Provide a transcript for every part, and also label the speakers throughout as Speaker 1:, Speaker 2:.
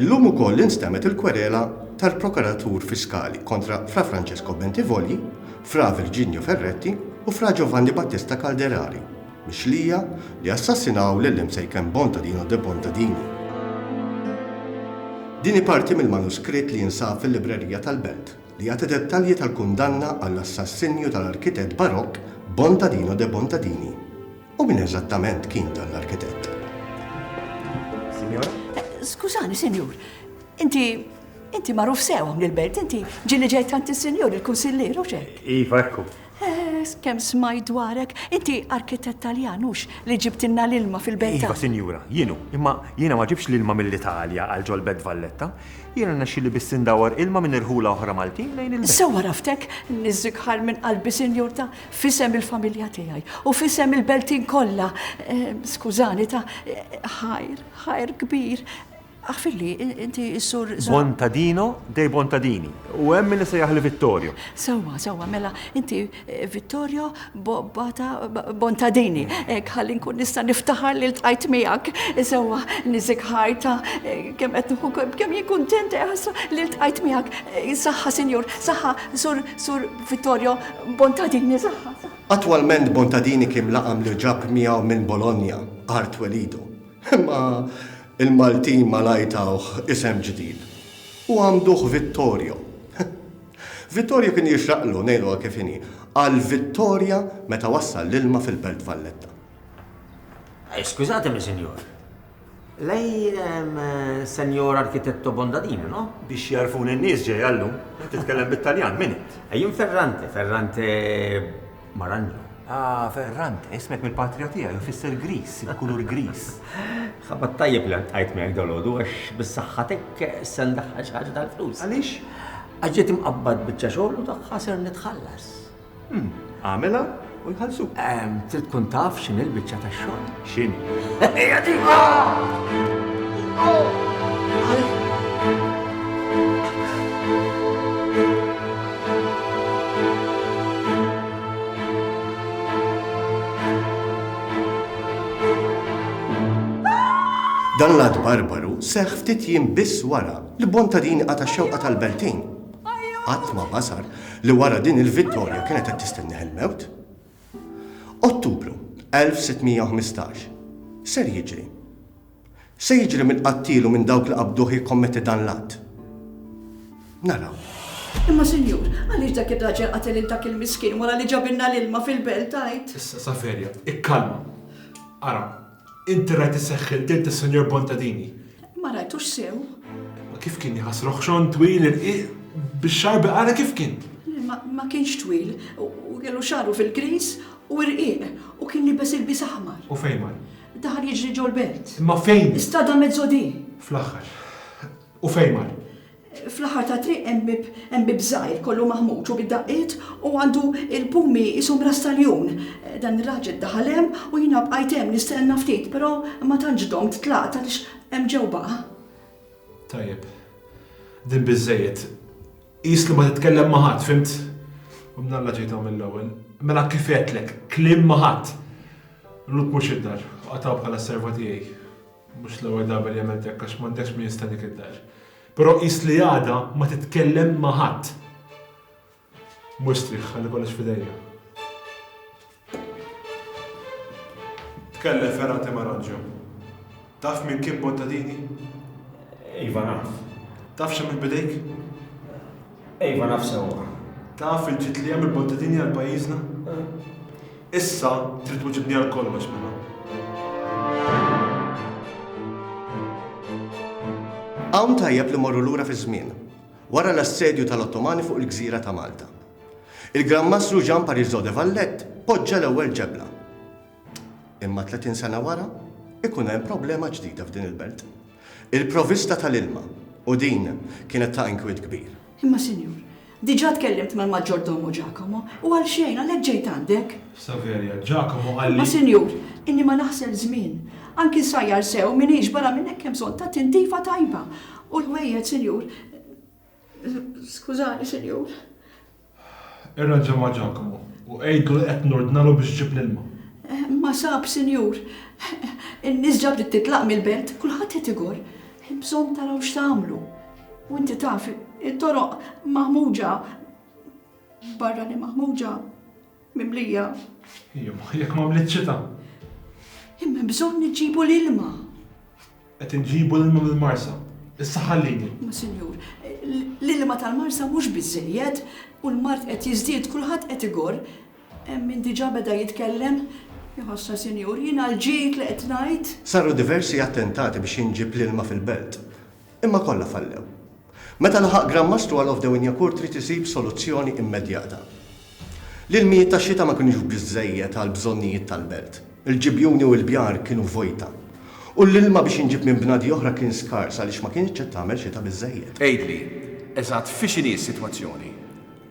Speaker 1: Illum ukoll instemgħet il-kwerela tal-Prokuratur Fiskali kontra Fra Francesco Bentivoglio, Fra Virginio Ferretti u Fra Giovanni Battista Calderari, mixlija, li assassinaw lil Imsejken Bontadino de Bontadini. Din hi parti mill-manuskritt li jinsab fil-librerija tal-Belt, li jagħti dettalji tal-kundanna għall-assassinju tal-arkitett Barokk Bontadino de Bontadini. U min eżattament kien dan l-arkitett?
Speaker 2: Sinjora? Skużani, Sinjur,
Speaker 3: inti Inti magħruf sew hawn il-belt, inti ġieli ġejt tant is-sinjur il-kunsillier u xek. Iva, ekku.
Speaker 2: Eż, kemm
Speaker 3: smajt dwarek! Inti arkitett Taljan, hux, li ġibtilna l-ilma fil-Belt Iva, sinjura, jien hu.
Speaker 2: Imma jiena ma ġibtx l-ilma mill-Italja għal ġol-Belt Valletta. Jiena rnexxieli biss indawwar ilma minn irħula oħra Maltin lejn il-Belt. Sew għaraftek!
Speaker 3: Niżżigħar minn qalbi, sinjur, ta' f'isem il-familja tiegħi u f'isem il-Beltin kollha, skużani, ta' ħajr, ħajr kbir, Aħfirli, inti s-sur. Bontadino
Speaker 2: dei Bontadini. U hemm min isejjaħli Vittorio. Sewwa, sewwa, mela
Speaker 3: inti eh, Vittorio Bata Bontadini. Hekk eh, ħalli nkun nista' niftaħar li ltqajt miegħek. Sewwa, niżik ħajta eh, kemm qed nħu kemm jien kuntent ħassa li ltqajt miegħek. Saħħa, sinjur, saħħa, sur sur Vittorio Bontadini, saħħa. Attwalment
Speaker 1: Bontadini kien laqam li ġab miegħu minn Bologna, art welidu. Imma il-Maltin malajr tawh isem ġdid u għammduh Vittorio. Vittorio kien jixraqlu, ngħiduha kif inhi, għal Vittoria meta wassal l-ilma fil-Belt Valletta. Skużatemi,
Speaker 4: Sinjur. Lei è Senjor Architetto Bondadini, no? Biex jagħrfuni n-nies
Speaker 2: ġejja llum. Titkellem bit-Taljan, min int? Jien Ferrante,
Speaker 4: Ferrante Marangio. Ah,
Speaker 2: Ferrante, ismek mill-patrija tiegħi u jfisser griż, il-kulur griż. Ħabat
Speaker 4: tajjeb li ltqajt miegħek dalgħodu għax bis-saħħatek se ndaħħal xi ħaġa tal-flus. Għaliex? Għax
Speaker 2: ġiet imqabbad
Speaker 4: biċċa xogħol u tagħha ser nitħallas.
Speaker 2: Għamilha u jħallsuk. Trid tkun taf
Speaker 4: x'inhi l-biċċa tax-xogħol. X'inhi? Hija
Speaker 2: diva!
Speaker 1: Dan l-għad barbaru seħ ftit jien biss wara li bonta din għata xewqa tal-Beltin. Qatt ma basar li wara din il-vittorja kienet qed tistenneħ il-mewt. Ottubru 1615, X'ser jiġri? Se jiġri minn qattiel u minn dawk li qabduh jikkommetti dan l-att? Naraw. Imma
Speaker 3: sinjur, għaliex dak ir-raġel qatel lil dak il-miskin wara li ġabilna l-ilma fil-belt, għid? Issa, Saverja,
Speaker 5: ikkalma. Ara, Inti rajt is-seħħiltiet tas-Sinjur Bontadini? Ma rajtux
Speaker 3: sew. Imma kif kien
Speaker 5: jħass roħxon twil irqiq bix-xarbi ara kif kien? Ma kienx
Speaker 3: twil u kellu xagħru fil-griż u rqiq u kien libes ilbies aħmar. U fejn mar?
Speaker 5: Daħal jiġri
Speaker 3: ġol-belt. Imma fejn? Strada
Speaker 5: Mezzodì.
Speaker 3: Fl-aħħar.
Speaker 5: U fejn mar? Fl-aħħar
Speaker 3: tat-triq hemm bieb hemm bieb żgħir kollu maħmuġ u bid-daqqiet u għandu l-pumi qishom ras tal-jun. Dan ir-raġel daħal hemm u jiena bqajt hemm nistenna ftit però ma tantx domt tlaqt għaliex hemm ġew baqa'.
Speaker 5: Tajjeb. Din biżżejjed. Qis li ma titkellem ma' ħadd, fhimt? U minn Alla ġejt hawn mill-ewwel. Mela kif għedtlek, kliem ma' ħadd! Luke mhux id-dar, qatgħu bħala s-serva tiegħi. Mhux l-ewwel darba li għamilt hekk għax m'għandekx min jistennik id-dar. Però qis li għada ma titkellem ma' ħadd. Mur strieħ, ħalli kollox f'idejja. Tkellem Ferrante Maranġo. Taf min kien Bontadini?
Speaker 4: Iva naf. Taf x'għamilt
Speaker 5: b'idejk?
Speaker 4: Iva naf sewwa. Taf il-ġid
Speaker 5: li hemm il-Bottadini għal pajjiżna? Issa trid tweġibni għal kollox mela.
Speaker 1: Hawn tajjeb li morru lura fiż-żmien, wara l-assedju tal-Ottomani fuq il-gżira ta' Malta. Il-Gran Mastru Jean Parisot de Valette poġġa l-ewwel ġebla. Imma 30 sena wara, ikun hemm problema ġdida f'din il-belt. Il-provista tal-ilma, u din kienet ta' inkwiet kbir. Imma sinjur,
Speaker 3: diġà tkellimt mal-maġġordomu Ġakomo, u għalxejn għalhekk ġejt għandek. Saverja, Ġakomo
Speaker 5: qal li. Imma sinjur,
Speaker 3: inni
Speaker 5: ma
Speaker 3: naħsel żmien. Anki nsajjar sew m'iniex, barra minn hekk hemm bżonn ta' tintifa tajba. U l-ħwejjed, sinjur. Skużani, sinjur.
Speaker 5: Irranġa ma' Ġakomo, u għidlu li qed nordnalu biex iġib l-ilma. Ma sab,
Speaker 3: sinjur. In-nies ġa bdiet titlaq mill-belt, kulħadd qed igorr. Hemm bżonn taraw x'tagħmlu. U inti taf, it-toroq maħmuġa. Barra li maħmuġa, Mimlija. Imma
Speaker 5: jekk m'għamlitx xita.
Speaker 3: Imma hemm bżonn iġġibu l-ilma. Qed
Speaker 5: inġibu l-ilma mill-Marsa. Issa ħallini. Ma sinjur,
Speaker 3: l-ilma tal-Marsa mhux biżżejjed u l-mard qed jiżdied kulħadd qed igorr. Hemm min diġà beda jitkellem. Iħossha sinjur, jiena l-ġid li qed ngħid. Saru diversi
Speaker 1: attentati biex jinġieb l-ilma fil-belt. Imma kollha fallew. Meta laħaq Gran Mastru għal Ovdew Injakur trid isib soluzzjoni immedjata. L-ilmijiet tax-xita ma kinux biżżejjed għall-bżonnijiet tal-belt. Il-ġibjuni u l-bjar kienu vojta. U l-ilma biex inġib minn bnadi oħra kien skars għaliex ma kinitx qed tagħmel xita biżżejjed. Għidli,
Speaker 6: eżatt fi x'inhi s-sitwazzjoni?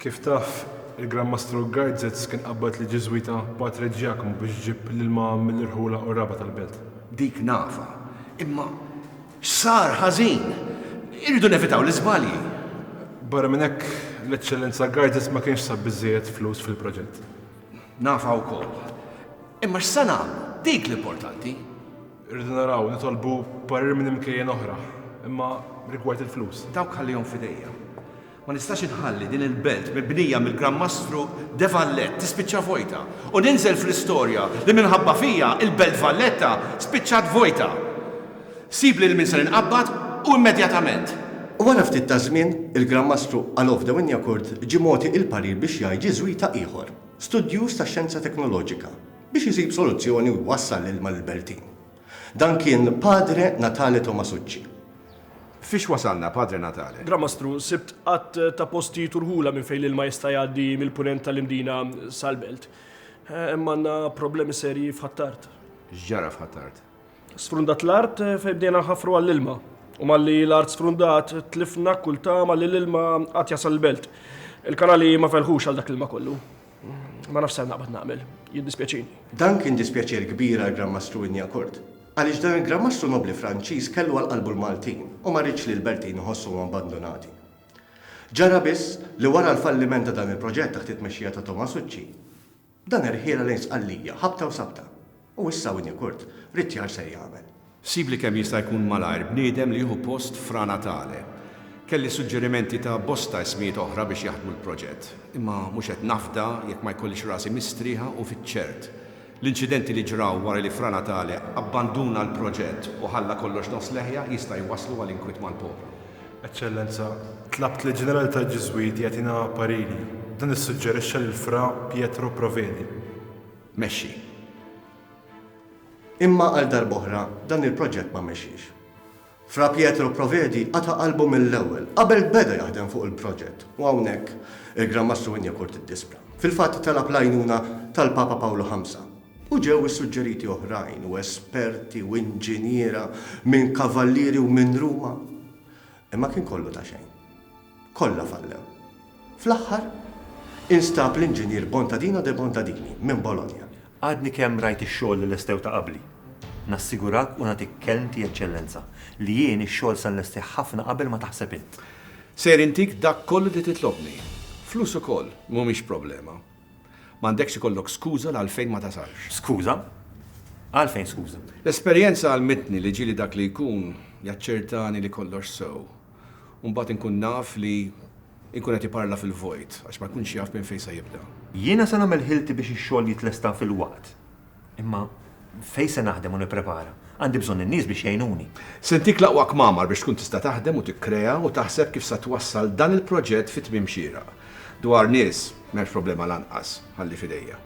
Speaker 6: Kif taf,
Speaker 5: il-Gran Mastru Gajdzez kien qabbad lill-Ġiżwita Patre Ġjakomu biex iġib l-ilma mill-irħula u r-raba' tal-belt. Dik nafha.
Speaker 6: Imma Sar ħażin! Irridu nevitaw l-iżbalji. Barra
Speaker 5: minn hekk, l-Eċċellenza Gardis ma kienx sab biżżejjed flus fil-proġett. Nafha
Speaker 6: wkoll. Imma x'se nagħmlu? Dik l-importanti. Irridu
Speaker 5: naraw, nitolbu parir minn imkejjen oħra. Imma rigward il-flus. Dawk ħallihom f'idejja.
Speaker 6: Ma nistax inħalli din il-belt mibnija mill-Gran Mastru De Vallet tispiċċa vojta u ninżel fl-istorja li minħabba fija il-Belt Valletta spiċċat vojta. Sib lil min ser inqabbad u immedjatament. U wara ftit
Speaker 1: ta' żmien, il-Gran Mastru Alof de Wignacourt ġie mogħti il-parir biex jgħid Ġiżwita ieħor, studjuż tax-xjenza teknoloġika, biex isib soluzzjoni u jwassal l-ilma lill-Beltin. Dan kien Padre Natale Tomasucci. Fiex
Speaker 6: wasalna, Padre Natale? Gran Mastru, sibt
Speaker 7: għadd ta' postijiet u rħula minn fejn l-ilma jista' jgħaddi mill-Punent tal-Imdina sal-Belt. Hemm għandna problemi serji f'Ħ'Attard. X'ġara f'Ħ'Attard?
Speaker 6: Sfrundat
Speaker 7: l-art fejn bdejna nħaffru għall-ilma. U malli l-art sfrundat, tlifna kull tama li l-ilma għad jasal il-Belt. Il-kanali ma felħux għal dak l-ilma kollu. Ma nafx ser naqbad nagħmel, jiddispjaċini. Dan kien dispjaċir
Speaker 1: kbir għall-Gran Mastru Inyacourt, għaliex dan il-Gran Mastru Nobbli Franċiż kellu għal qalbu l-Maltin u ma riedx li l-Bertin iħossuhom abbandunati. Ġara biss li wara l-falliment ta' dan il-proġett taħt it-tmexxija ta' Tomasucci, dan irħielha lejn Sqallija ħabta u sabta. U issa Winnicurt Rittjar ser jagħmel. Sibli kemm jista'
Speaker 6: jkun malajr bniedem li jieħu post Fra Natale. Kelli suġġerimenti ta' bosta ismijiet oħra biex jaħdmu l-proġett. Imma mhux qed nafda jekk ma jkollix rasi mistrieħa u fiċ-ċert. L-inċidenti li ġraw wara li Fra Natale abbanduna l-proġett u ħalla kollox nofs leħja jista' jwasslu għal inkwiet mal-poplu. Eċċellenza,
Speaker 5: tlabt lill-Ġenerali tal-Ġiżwiti jagħtina pariri. Dan issuġġerixxa lil Fra Pietro Provedi. mexxi.
Speaker 1: Imma għal darb'oħra dan il-proġett ma mexiex. Fra Pietro Provedi qata' qalbu mill-ewwel, qabel beda jaħdem fuq il-proġett u hawnhekk il-Gran Mastru Wynyakour tiddispra. Fil-fatt talab l-għajnuna tal-Papa Pawlu Ħamsa u ġew issuġġeriti oħrajn u esperti u inġiniera minn Kavallieri u minn Ruma, imma kien kollu ta' xejn. Kollha fallew. Fl-aħħar, instab l-inġinier Bontadino de Bontadini, minn Bologna. Għadni kemm rajt
Speaker 2: ix-xogħol li lestew ta' qabli. Nassigurak u nagħtik kelmti, Eċċellenza, li jien ix-xogħol se nlestih ħafna qabel ma taħseb int. Ser intik
Speaker 6: dak kollu li titlobni. Flus ukoll mhumiex problema. M'għandekx ikollok skuża l-għalfejn ma tasalx. Skuża?
Speaker 2: Għalfejn skuża? L-esperjenza għallmitni
Speaker 6: li ġieli dak li jkun jaċċertani li kollox sew. u mbagħad inkun naf li jkun qed iparla fil-vojt għax ma jkunx jaf minn fejn se jibda. Jiena se nagħmel ħilti
Speaker 2: biex ix-xogħol jitlesta fil-waqt. Imma fejn se naħdem u nipprepara? Għandi bżonn in-nies biex jgħinuni. Se ntik l-aqwa
Speaker 6: kmamar biex tkun tista' taħdem u tikkrea u taħseb kif sa twassal dan il-proġett fi tmiem xieraq. Dwar nies, m'hemmx problema lanqas, ħalli f'idejja.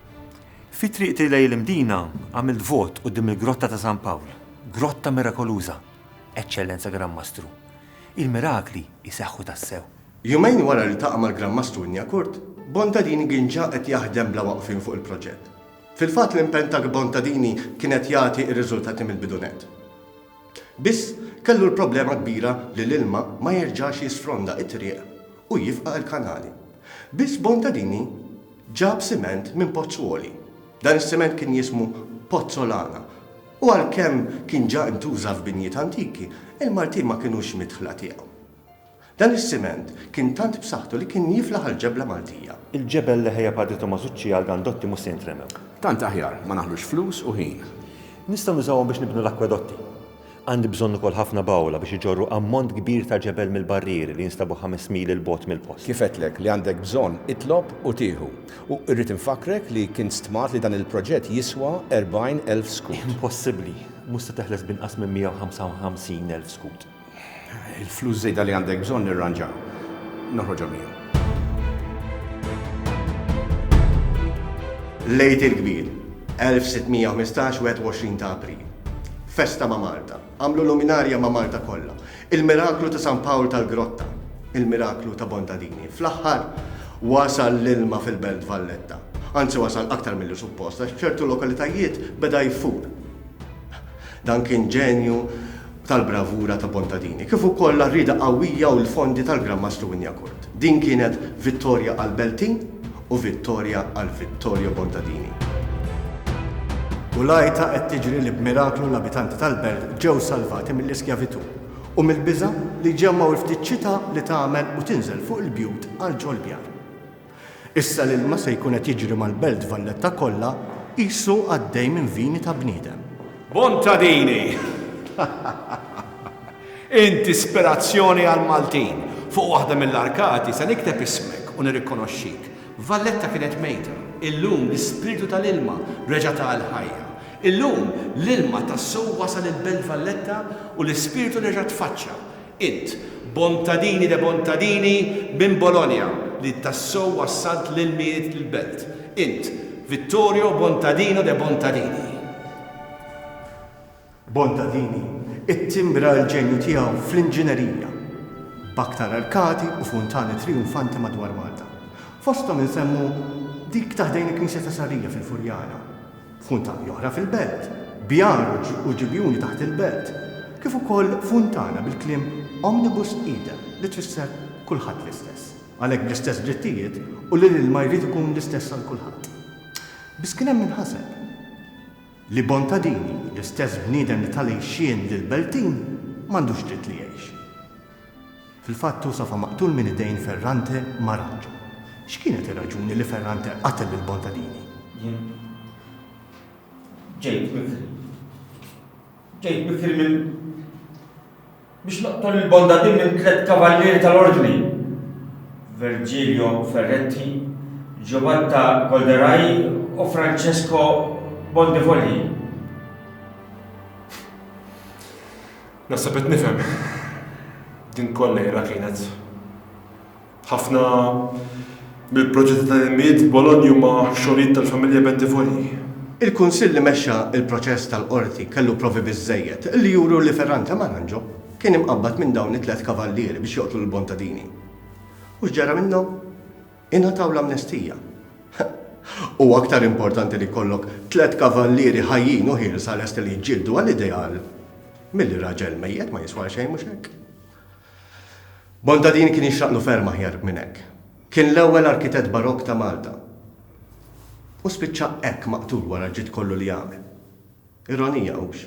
Speaker 6: Fi triqti
Speaker 2: lejn il-Mdina għamilt vot quddiem il-Grotta ta' San Pawl. Grotta mirakoluża! Eċċellenza Gran Mastru, il-mirakli
Speaker 1: jseħħu
Speaker 2: tassew!
Speaker 1: Jumejn wara
Speaker 2: li ltaqa'
Speaker 1: mal-Gran Mastru
Speaker 2: Inniakurth,
Speaker 1: Bontadini kien ġa qed jaħdem bla waqfien fuq il-proġett. Fil-fatt l-impenn ta' Bontadini kien qed jagħti r-riżultati mill-bidu nett. Biss, kellu l-problema kbira li l-ilma ma jerġax jisfronda t-triq u jifqa' l-kanali. Biss Bontadini ġab siment minn Pozzuoli. Dan is-siment kien jismu Pozzolana. U għalkemm kien ġa intuża f'binjiet antiki, il-Maltin ma kinux midħla tiegħu. Dan is-siment kien tant b'saħħtu li kien jiflaħ għall-ġebla Maltija. Il-ġebel li ħejja Padre
Speaker 2: Tomasucci għal dan dotti mhux se jintremew. Tant aħjar ma
Speaker 6: naħlux flus u ħin. Nistgħu nużawhom
Speaker 2: biex nibnu l-akkwedotti. Għandi bżonn ukoll ħafna bawla biex iġorru ammont kbir ta' ġebel mill-barrieri li jinstabu ħames mil 'il bogħod mill-post. Kif għedtlek li għandek
Speaker 6: bżonn, itlob u tieħu. U irrid infakkrek li kien stmat li dan il-proġett jiswa 40 elf skud. Impossibbli! Mhux
Speaker 2: se teħles b'inqas minn 155 elf skud. Il-flus
Speaker 6: żejda li għandek bżonn nirranġa noħroġhom jien.
Speaker 1: L-Għid il-Kbir, 1615, 21 ta' April. Festa ma' Malta. Għamlu luminarja ma' Malta kollha. Il-miraklu ta' San Pawl tal-Grotta, il-miraklu ta' Bontadini. Fl-aħħar, wasal l-ilma fil-Belt Valletta. Anzi wasal aktar milli suppost għax f'ċertu lokalitajiet beda jfur. Dan kien ġenju tal-bravura ta' Bontadini, kif ukoll l-għarrieda qawwija u l-fondi tal-Gran Mastru Injakurt. Din kienet vittorja għall-Beltin u vittorja għal Vittorio Bontadini. U l-għajta qed tiġri li b'miraklu l-abitanti tal-belt ġew salvati mill-iskjavitù u mill-biża' li jġemmgħu l-ftit xita li tagħmel u tinżel fuq il-bjut għal ġol-bjar. Issa l-ilma se jkun qed jiġri mal-belt Valletta kollha qisu għaddej minn vini ta' bniedem. Bontadini!
Speaker 6: Int ispirazzjoni għall-Maltin. Fuq waħda mill-arkati se nikteb ismek u nirrikonoxxik. Valletta kienet mejta. Illum l-ispirtu tal-ilma reġa' ta l-ħajja. Illum l-ilma tassew wasal il-Belt Valletta u l-ispirtu reġa' tfaċċa. Int, Bontadini de Bontadini minn Bologna li tassew wassalt l-ilmijiet lill-Belt. Int, Vittorio Bontadino de Bontadini.
Speaker 1: Bontadini ttimbra l-ġenju tiegħu fl-inġinerija, b'aktar arkati u funtani trijunfanti madwar Malta. Fosthom insemmu dik ta' ħdejn il-Knisja ta' Sarrija fil-Furjana, funtani oħra fil-Belt, bjar u ġibjuni taħt il-Belt, kif ukoll funtana bil-kliem Omnibus idem li tfisser kulħadd l-istess, għalhekk bl-istess drittijiet u li l-ilma jrid ikun l-istess għal kulħadd. Biss kien hemm min ħaseb. Li Bontadini, l-istess bniedem li ta l-għixien lill-Beltin, m'għandux dritt li jgħix. Fil-fatt hu safa maqtul minn idejn Ferrante Maranġo. X'kienet ir-raġuni li Ferrante qatel lil Bontadini? Jien ġejt
Speaker 4: bikri. Ġejt bikri minn. Biex noqtol il-Bondadin minn tliet kavallieri tal-Ordni, Vergilio Ferretti, Giobatta Golderai u Francesco Bondivogli.
Speaker 5: Naħseb qed nifhem. Din kollha Ira kienet. Ħafna mill-proġetti ta' ilmijiet f'Bologna huma xogħlijiet tal-familja Bentivogli. Il-Kunsill
Speaker 1: li mexxa l-proċess tal-Qorti kellu provi biżżejjed li juru li Ferrante Maranġo kien imqabbad minn dawn it-tliet kavallieri biex joqtlu lil Bontadini. U x'ġara minnhom? Ingħataw l-amnestija. Huwa aktar importanti li jkollok tliet kavallieri ħajjin u ħielsa lesti li jiġġieldu għal ideal milli raġel mejjet ma jiswa xejn, mhux hekk? Montadin kien jixraqlu ferm aħjar minn hekk. Kien l-ewwel arkitett Barokk ta' Malta. U spiċċa hekk maqtul wara l-ġid kollu li għamel. Ironija, hux?